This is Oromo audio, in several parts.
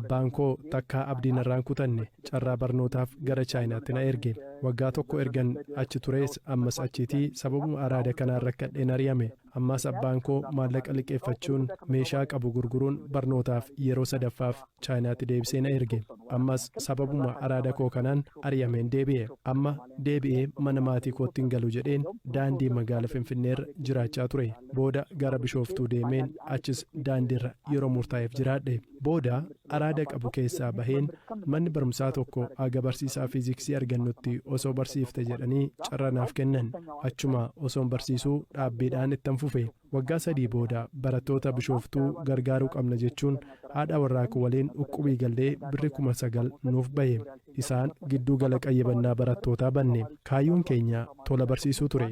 Abbaan koo takkaa abdii narraa hin kutanne. Carraa barnootaaf gara Chaayinaatti na erge. Waggaa tokko ergan achi turees ammas achiitii sababuma araada kanaan rakkadheen ari'ame. Ammaas abbaan koo maallaqa liqeeffachuun meeshaa qabu gurguruun barnootaaf yeroo sadaffaaf Chaayinaatti deebisee na erge. Ammas sababuma araada koo kanaan ari'ameen deebi'e. Amma deebi'ee mana maatii kootti hin galu jedheen daandii magaala Finfinneerra jiraachaa ture. Booda gara Bishooftuu deemeen achis daandiirra yeroo murtaa'eef jiraadhe. Booda araada qabu keessaa baheen manni barumsaa tokko haga barsiisaa fiiziksii argannutti osoo barsiifte jedhanii carra naaf kennan. Achuma osoon barsiisuu dhaabbiidhaan ittan fufe. Waggaa sadii booda barattoota Bishooftuu gargaaruu qabna jechuun haadha warraa koo waliin uqqubii gallee birri kuma sagal nuuf bahe. Isaan gidduu gala qayyabannaa barattootaa banne. Kaayyoon keenya tola barsiisuu ture.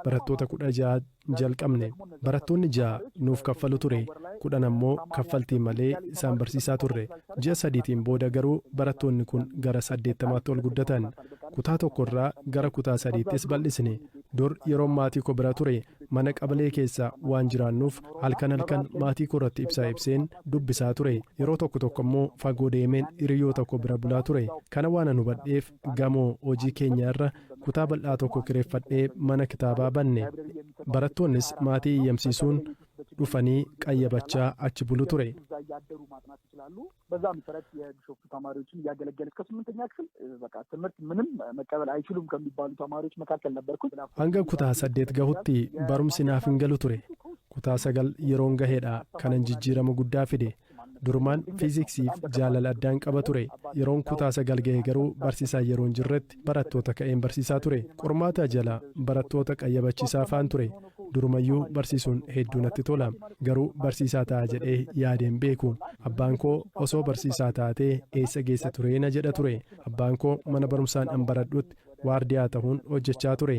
Barattoota kudha ja'a. jalqabne. Barattoonni ja'a nuuf kaffalu ture, kudhan ammoo kaffaltii malee isaan barsiisaa turre. Ji'a sadiitiin booda garuu barattoonni kun gara saddeettamaatti ol guddatan. Kutaa tokkorraa gara kutaa sadiittis bal'isne. Dur yeroon maatiiko bira ture mana qabalee keessa waan jiraannuuf halkan halkan maatiikoorratti ibsaa ibseen dubbisaa ture. Yeroo tokko tokko ammoo fagoo deemeen hiriyyootakoo bira bulaa ture. Kana waanan hubadheef gamoo hojii keenyaa irra kutaa bal'aa tokko kireeffadhee mana kitaabaa banne. Barattoonnis maatii iyyamsiisuun dhufanii qayyabachaa achi bulu ture. Hanga kutaa saddeet gahutti barumsi naaf hin galu ture. Kutaa sagal yeroon gahedha kanan jijjiirama guddaa fide. Durumaan Fiiziksiif jaalala addaan qaba ture. Yeroon kutaa sagal gahe garuu barsiisaa yeroo hin jirretti barattoota ka'een barsiisaa ture. Qormaataa jala barattoota qayyabachiisaafaan ture. Durumayyuu barsiisuun hedduu natti tola. Garuu barsiisaa ta'a jedhee yaadee hin beeku. Abbaan koo osoo barsiisaa taatee eessa geessa turee na jedha ture. Abbaan koo mana barumsaan an baradhutti waardiyaa tahuun hojjechaa ture.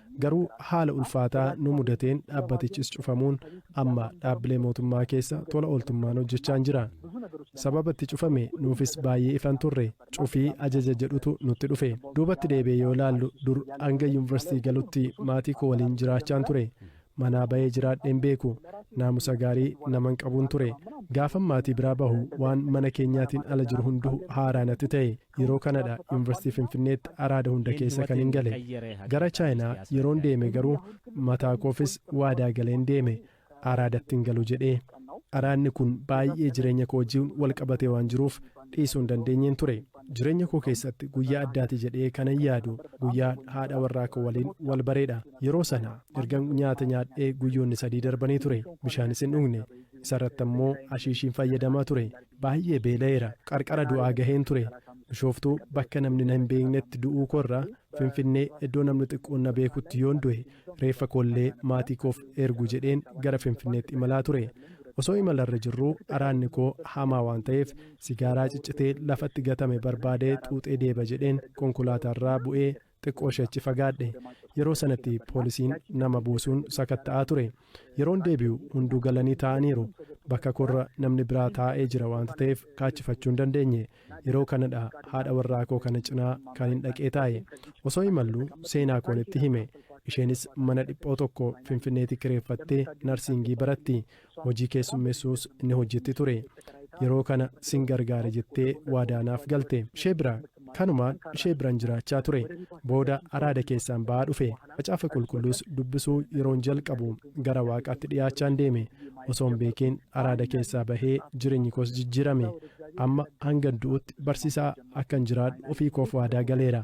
Garuu haala ulfaataa nu mudateen dhaabbatichis cufamuun amma dhaabbilee mootummaa keessa tola ooltummaan hojjechaan jira. Sababa itti cufame nuufis baay'ee ifa hin turre. Cufii ajaja jedhutu nutti dhufe. Duubatti deebi'ee yoo ilaallu dur hanga yunvarsiitii galutti maatii koo waliin jiraachaan ture. Manaa ba'ee jiraadhee hin beeku. Naamusa gaarii naman qabuun ture. Gaafan maatii biraa bahu waan mana keenyaatiin ala jiru hunduu haaraa natti ta'e. Yeroo Kanada Yuunivarsiitii Finfinneetti araada hunda keessa kanin gale. Gara Chaayinaa yeroon deeme garuu mataa koofis waadaa galeen deeme. Araadatti hin galu jedhee. Araadni kun baay'ee jireenya koo wajjin wal qabatee waan jiruuf dhiisuu hin dandeenyeen ture. Jireenya koo keessatti guyyaa addaati jedhee kanan yaadu guyyaa haadha warraa koo waliin wal bareedha. Yeroo sana ergan nyaata nyaadhee guyyoonni sadii darbanii ture. Bishaanis hin dhugne. Isarratti ammoo ashiishiin fayyadamaa ture. Baay'ee beela'eera. Qarqara du'aa gaheen ture. Bishooftuu bakka namni na hin beeknetti du'uu koo irra, Finfinnee iddoo namni xiqqoon na beekutti yoon du'e, reeffa koo illee maatii koof ergu jedheen gara Finfinneetti imalaa ture. Osoo imala irra jirruu araadni koo hamaa waan ta'eef sigaaraa ciccitee lafatti gatame barbaadee xuuxee deeba jedheen konkolaataa irraa bu'ee Xiqqooshi achi fagaadhe. Yeroo sanatti poolisiin nama buusuun sakatta'aa ture. Yeroon deebi'u hunduu galanii taa'aniiru. Bakka koorra namni biraa taa'ee jira waanta ta'eef kaachifachuu hin dandeenye. Yeroo kanadha haadha warraa koo kana cinaa kanin dhaqee taa'e. Osoo imalluu seenaa koon itti hime. Isheenis mana dhiphoo tokko Finfinneetii kireeffattee narsiingii baratti. hojii keessummeessuus ni hojjetti ture. Yeroo kana sin gargaara jettee waadaa naaf galte. Ishee bira kanumaan ishee biran jiraachaa ture. Booda araada keessaan ba'aa dhufe. Macaafa Qulqulluus dubbisuu yeroon jalqabu gara Waaqaatti dhiyaachaan deeme. Osoon beekiin araada keessaa bahee jireenyi koos jijjiirame. Amma hangan du'utti barsiisaa akkan jiraadhu ofii koof waadaa galeera.